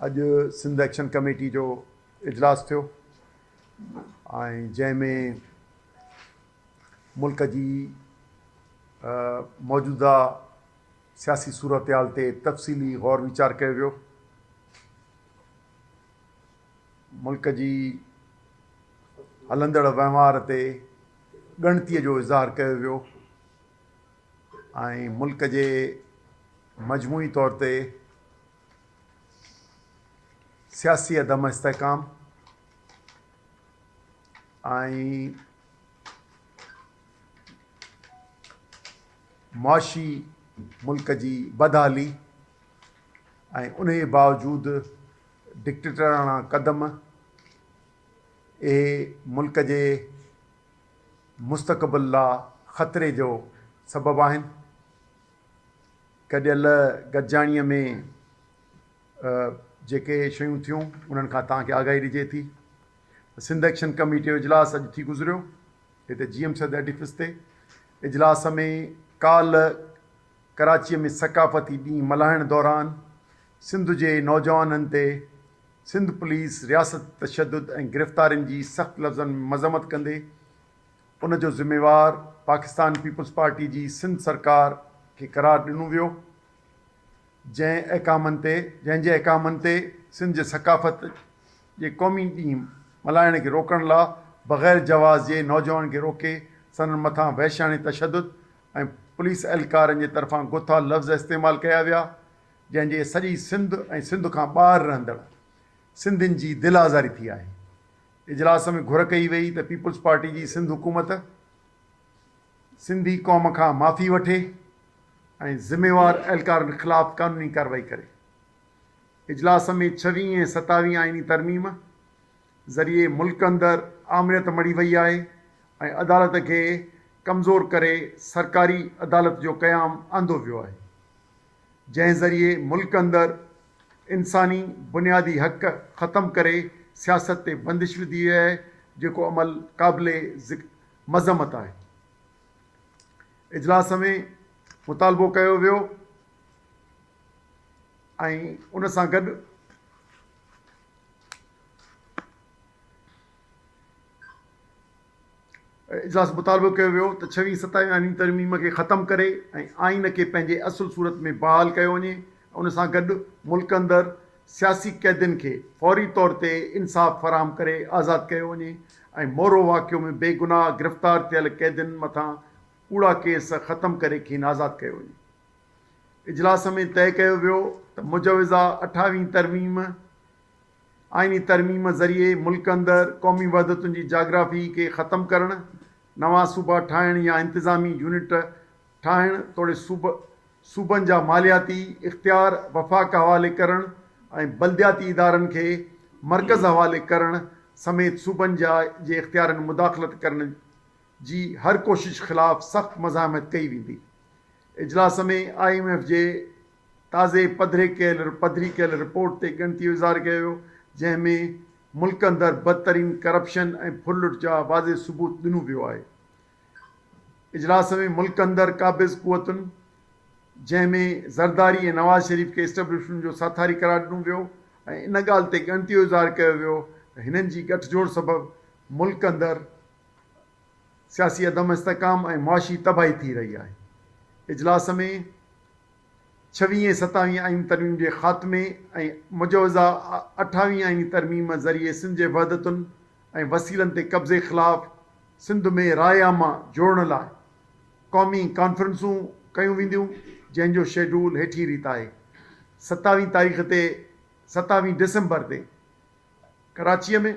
اڄ Sindh action committee جو اجلاس ٿيو ۽ جنهن ۾ ملڪ جي موجوده سياسي صورتحال تي تفصيلي غور ويچار ڪيو ويو ملڪ جي هلندڙ وهنوار تي ڳڻتيء جو اظهار ڪيو ويو ۽ ملڪ جي مجموعي طور تي سياسي عدم استحڪام ۽ معاشي ملڪ جي بدحالي ۽ ان جي باوجود ڊڪٽيٽراڻا قدم اهي ملڪ جي مستقبل لا خطري جو سبب آهن. گڏيل گڏجاڻيء ۾ جيڪي شيون ٿيون انهن کان توهان کي آگاهي ڏجي ٿي ته سنڌ ايڪشن ڪميٽي جو اجلاس اڄ ٿي گذريو هتي جي ايم سيد ايڊيفس تي اجلاس ۾ ڪالهه ڪراچيء ۾ ثقافتي ڏينهن ملهائڻ دوران سنڌ جي نوجوانن تي سنڌ پوليس رياست تشدد ۽ گرفتارين جي سخت لفظن ۾ مذمت ڪندي ان جو ذميوار پاڪستان پيپلز پارٽي جي سنڌ سرڪار کي قرار ڏنو ويو جنهن احڪامن تي جنهن جي احڪامن تي سنڌ جي ثقافت جي قومي ڏينهن ملهائڻ کي روڪڻ لا بغير جواز جي نوجوانن کي روڪي سندن مٿان وحشياڻي تشدد ۽ پوليس اهلڪارن جي طرفان گٿا لفظ استعمال ڪيا ويا جنهن جي سڄي سنڌ ۽ سنڌ کان ٻاهر رهندڙ سنڌين جي دل آزاري ٿي آهي اجلاس ۾ گهر ڪئي وئي ته پيپلز پارٽي جي سنڌ حڪومت سنڌي قوم کان معافي وٺي ۽ ذميوار اهلڪارن خلاف قانوني ڪارروائي ڪري. اجلاس ۾ ڇوين ۽ ستاوين آئيني ترميم ذريعي ملڪ اندر آمريت مڙهي وئي آهي ۽ عدالت کي ڪمزور ڪري سرڪاري عدالت جو قيام آندو ويو آهي. جنهن ذريعي ملڪ اندر انساني بنيادي حق ختم ڪري سياست تي بندش وڌي وئي آهي جيڪو عمل قابل مذمت آهي. اجلاس ۾ مطالبو ڪيو ويو ۽ ان سان گڏ اجلاس مطالبو ڪيو ويو ته ڇوين ستائين آئيني ترميم کي ختم ڪري ۽ آئين کي پنهنجي اصل صورت ۾ بحال ڪيو وڃي ۽ ان سان گڏ ملڪ اندر سياسي قيدين کي فوري طور تي انصاف فراهم ڪري آزاد ڪيو وڃي ۽ مورو واقعو ۾ بي گناهه گرفتار ٿيل قيدين مٿان ڪوڙا ڪيس ختم ڪري کين آزاد ڪيو وڃي. اجلاس ۾ طئي ڪيو ويو ته مجوزه اٺاوين ترميم، آئيني ترميم ذريعي ملڪ اندر قومي وحدتن جي جاگرافي کي ختم ڪرڻ، نوان صوبا ٺاهڻ يا انتظامي يونٽ ٺاهڻ توڙي صوبن جا مالياتي اختيار وفاق حوالي ڪرڻ ۽ بلدياتي ادارن کي مرڪز حوالي ڪرڻ سميت صوبن جي اختيارن مداخلت ڪرڻ جي هر ڪوشش خلاف سخت مزاحمت ڪئي ويندي. اجلاس ۾ آء ايم ايف جي تازي پڌري ڪيل پڌري ڪيل رپورٽ تي ڳڻتي جو اظهار ڪيو ويو، جنهن ۾ ملڪ اندر بدترين ڪرپشن ۽ ڦر لٽ جا واضح ثبوت ڏنو ويو آهي. اجلاس ۾ ملڪ اندر قابض قوتن جنهن ۾ زرداري ۽ نواز شريف کي اسٽبلشمنٽ جو ساٿاري قرار ڏنو ويو ۽ ان ڳالهه تي ڳڻتي جو اظهار ڪيو ويو ته هنن جي ڳٺ جوڙ سبب ملڪ اندر سياسي عدم استحڪام ۽ معاشي تباهي ٿي رهي آهي. اجلاس ۾ ڇويهين ستاويهين آئين ترميم جي خاتمي ۽ مجوزه اٺاويهين آئيني ترميم ذريعي سنڌ جي وحدتن ۽ وسيلن تي قبضي خلاف سنڌ ۾ راء عامه جوڙڻ لاء قومي ڪانفرنسون ڪيون وينديون جنهن جو شيڊول هيٺين ريت آهي ستاويهين تاريخ تي ستاويهين ڊسمبر تي ڪراچيء ۾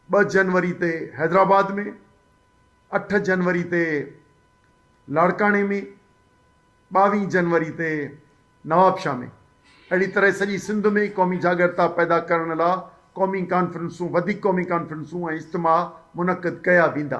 ٻه جنوري تي حيدرآباد ۾ اٺ جنوري تي لاڙڪاڻي ۾. ٻاوهين جنوري تي نوابشاهه ۾، اهڙي طرح سڄي سنڌ ۾ قومي جاڳرتا پيدا ڪرڻ لا قومي ڪانفرنسون، وڌيڪ قومي ڪانفرنسون ۽ اجتماع منعقد ڪيا ويندا.